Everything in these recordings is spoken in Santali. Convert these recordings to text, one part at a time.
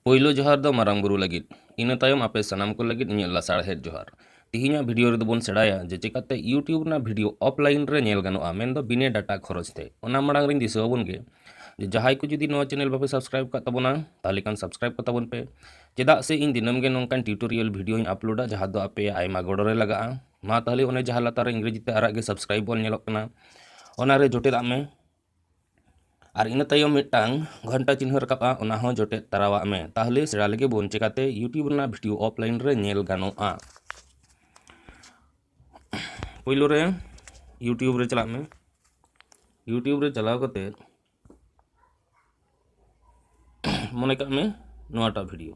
ᱯᱳᱭᱞᱳ ᱡᱚᱦᱟᱨ ᱫᱚ ᱢᱟᱨᱟᱝ ᱵᱩᱨᱩ ᱞᱟᱹᱜᱤᱫ ᱤᱱᱟᱹ ᱛᱟᱭᱚᱢ ᱟᱯᱮ ᱥᱟᱱᱟᱢ ᱠᱚ ᱞᱟᱹᱜᱤᱫ ᱤᱧᱟᱹᱜ ᱞᱟᱥᱟᱲᱦᱮᱫ ᱡᱚᱦᱟᱨ ᱛᱮᱦᱮᱧᱟᱜ ᱵᱷᱤᱰᱤᱭᱳ ᱨᱮᱫᱚ ᱵᱚᱱ ᱥᱮᱬᱟᱭᱟ ᱡᱮ ᱪᱮᱠᱟᱛᱮ ᱤᱭᱩᱴᱤᱭᱩᱵᱽ ᱨᱮᱱᱟᱜ ᱵᱷᱤᱰᱤᱭᱳ ᱚᱯᱷᱞᱟᱭᱤᱱ ᱨᱮ ᱧᱮᱞ ᱜᱟᱱᱚᱜᱼᱟ ᱢᱮᱱᱫᱚ ᱵᱤᱱᱮ ᱰᱟᱴᱟ ᱠᱷᱚᱨᱚᱪ ᱛᱮ ᱚᱱᱟ ᱢᱟᱲᱟᱝ ᱨᱤᱧ ᱫᱤᱥᱟᱹ ᱟᱵᱚᱱ ᱜᱮ ᱡᱮ ᱡᱟᱦᱟᱸᱭ ᱠᱚ ᱡᱩᱫᱤ ᱱᱚᱣᱟ ᱪᱮᱱᱮᱞ ᱵᱟᱯᱮ ᱥᱟᱵᱥᱠᱨᱟᱭᱤᱵᱽ ᱠᱟᱜ ᱛᱟᱵᱚᱱᱟ ᱛᱟᱦᱚᱞᱮ ᱠᱷᱟᱱ ᱥᱟᱵᱥᱠᱨᱟᱭᱤᱵᱽ ᱠᱟᱜ ᱛᱟᱵᱚᱱ ᱯᱮ ᱪᱮᱫᱟᱜ ᱥᱮ ᱤᱧ ᱫᱤᱱᱟᱹᱢ ᱜᱮ ᱱᱚᱝᱠᱟᱱ ᱴᱤᱭᱩᱴᱳᱨᱤᱭᱟᱞ ᱵᱷᱤᱰᱤᱭᱳᱧ ᱟᱯᱞᱳᱰᱟ ᱡᱟᱦᱟᱸ ᱫᱚ ᱟᱯᱮ ᱟᱭᱢᱟ ᱜᱚᱲᱚ ᱨᱮ ᱞᱟᱜᱟᱜᱼᱟ ᱢᱟ ᱛᱟᱦᱚᱞᱮ ᱚᱱᱮ ᱡᱟᱦᱟᱸ ᱞᱟᱛᱟᱨ ᱨᱮ ᱤᱝᱨᱮᱡᱤ ᱛᱮ ᱟᱨᱟᱜ ᱜᱮ ᱥᱟᱵᱥᱠᱨᱟᱭᱤᱵᱽ ᱵᱚᱱ ᱧᱮᱞᱚᱜ ᱠᱟᱱᱟ ᱚᱱᱟᱨᱮ ᱡᱚᱴᱮᱫᱟᱜ ᱢᱮ ᱟᱨ ᱤᱱᱟᱹ ᱛᱟᱭᱚᱢ ᱢᱤᱫᱴᱟᱝ ᱜᱷᱚᱱᱴᱟ ᱪᱤᱱᱦᱟᱹ ᱨᱟᱠᱟᱵᱼᱟ ᱚᱱᱟ ᱦᱚᱸ ᱡᱚᱴᱮᱫ ᱛᱟᱨᱟᱣᱟᱜ ᱢᱮ ᱛᱟᱦᱚᱞᱮ ᱥᱮᱬᱟ ᱞᱮᱜᱮ ᱵᱚᱱ ᱪᱮᱠᱟᱛᱮ ᱤᱭᱩᱴᱤᱭᱩᱵᱽ ᱨᱮᱱᱟᱜ ᱵᱷᱤᱰᱤᱭᱳ ᱚᱯᱷᱞᱟᱭᱤᱱ ᱨᱮ ᱧᱮᱞ ᱜᱟᱱᱚᱜᱼᱟ ᱯᱳᱭᱞᱳ ᱨᱮ ᱤᱭᱩᱴᱤᱭᱩᱵᱽ ᱨᱮ ᱪᱟᱞᱟᱜ ᱢᱮ ᱤᱭᱩᱴᱤᱭᱩᱵᱽ ᱨᱮ ᱪᱟᱞᱟᱣ ᱠᱟᱛᱮ ᱢᱚᱱᱮ ᱠᱟᱜ ᱢᱮ ᱱᱚᱣᱟᱴᱟᱜ ᱵᱷᱤᱰᱤᱭᱳ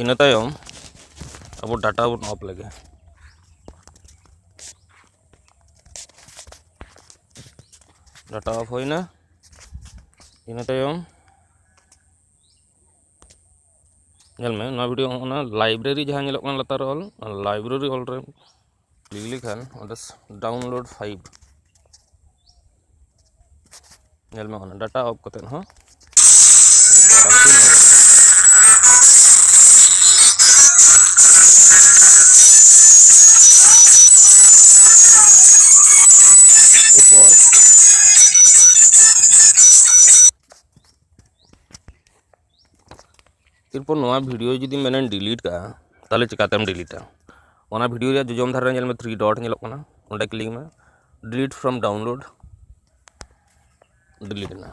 ᱤᱱᱟᱹ ᱛᱟᱭᱚᱢ ᱟᱵᱚ ᱰᱟᱴᱟ ᱵᱚᱱ ᱚᱯᱷ ᱞᱮᱜᱮ ᱰᱟᱴᱟ ᱚᱯᱷ ᱦᱩᱭᱱᱟ ᱤᱱᱟᱹ ᱛᱟᱭᱚᱢ ᱧᱮᱞ ᱢᱮ ᱱᱚᱣᱟ ᱵᱷᱤᱰᱤᱭᱳ ᱚᱱᱟ ᱞᱟᱭᱵᱨᱮᱨᱤ ᱡᱟᱦᱟᱸ ᱧᱮᱞᱚᱜ ᱠᱟᱱᱟ ᱞᱟᱛᱟᱨ ᱨᱮ ᱚᱞ ᱞᱟᱭᱵᱨᱮᱨᱤ ᱚᱞ ᱨᱮ ᱞᱤᱜᱽᱞᱤ ᱠᱷᱟᱱ ᱚᱸᱰᱮ ᱰᱟᱣᱩᱱᱞᱳᱰ ᱯᱷᱟᱭᱤᱞ ᱧᱮᱞ ᱢᱮ ᱚᱱᱟ ᱰᱟᱴᱟ ᱚᱯᱷ ᱠᱟᱛᱮᱫ ᱦᱚᱸ ᱮᱨᱯᱚᱨ ᱱᱚᱣᱟ ᱵᱷᱤᱰᱤᱭᱳ ᱡᱩᱫᱤ ᱢᱮᱱᱮᱢ ᱰᱤᱞᱤᱴ ᱠᱟᱜᱼᱟ ᱛᱟᱦᱚᱞᱮ ᱪᱤᱠᱟᱛᱮᱢ ᱰᱤᱞᱤᱴᱟ ᱚᱱᱟ ᱵᱷᱤᱰᱤᱭᱳ ᱨᱮᱭᱟᱜ ᱡᱚᱡᱚᱢ ᱫᱷᱟᱨᱮ ᱨᱮ ᱧᱮᱞ ᱢᱮ ᱛᱷᱨᱤ ᱰᱚᱴ ᱧᱮᱞᱚᱜ ᱠᱟᱱᱟ ᱚᱸᱰᱮ ᱠᱞᱤᱠ ᱢᱮ ᱰᱤᱞᱤᱴ ᱯᱷᱨᱚᱢ ᱰᱟᱣᱩᱱᱞᱳᱰ ᱰᱤᱞᱤᱴ ᱮᱱᱟ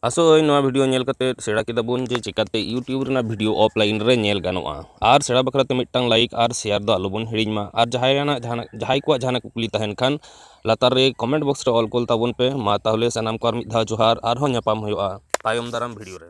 ᱟᱥᱚᱜ ᱟᱹᱧ ᱱᱚᱣᱟ ᱵᱷᱤᱰᱤᱭᱳ ᱧᱮᱞ ᱠᱟᱛᱮ ᱥᱮᱬᱟ ᱠᱮᱫᱟ ᱵᱚᱱ ᱡᱮ ᱪᱮᱠᱟᱛᱮ ᱤᱭᱩᱴᱤᱭᱩᱵᱽ ᱨᱮᱱᱟᱜ ᱵᱷᱤᱰᱤᱭᱳ ᱚᱯᱷᱞᱟᱭᱤᱱ ᱨᱮ ᱧᱮᱞ ᱜᱟᱱᱚᱜᱼᱟ ᱟᱨ ᱥᱮᱬᱟ ᱵᱟᱠᱷᱨᱟ ᱛᱮ ᱢᱤᱫᱴᱟᱝ ᱞᱟᱭᱤᱠ ᱟᱨ ᱥᱮᱭᱟᱨ ᱫᱚ ᱟᱞᱚᱵᱚᱱ ᱦᱤᱲᱤᱧ ᱢᱟ ᱟᱨ ᱡᱟᱦᱟᱸᱭᱟᱱᱟᱜ ᱡᱟᱦᱟᱱᱟᱜ ᱡᱟᱦᱟᱸᱭ ᱠᱚᱣᱟᱜ ᱡᱟᱦᱟᱱᱟᱜ ᱠᱩᱠᱞᱤ ᱛᱟᱦᱮᱱ ᱠᱷᱟᱱ ᱞᱟᱛᱟᱨ ᱨᱮ ᱠᱚᱢᱮᱱᱴ ᱵᱚᱠᱥ ᱨᱮ ᱚᱞ ᱠᱩᱞ ᱛᱟᱵᱚᱱ ᱯᱮ ᱢᱟ ᱛᱟᱦᱚᱞᱮ ᱥᱟᱱᱟᱢ ᱠᱚ ᱟᱨ ᱢᱤᱫ ᱫᱷᱟᱣ ᱡᱚᱦᱟᱨ ᱟᱨᱦᱚᱸ ᱧᱟᱯᱟᱢ ᱦᱩᱭᱩᱜᱼᱟ ᱛᱟᱭᱚᱢ ᱫᱟᱨᱟᱢ ᱵᱷᱤᱰᱤᱭᱳ ᱨᱮ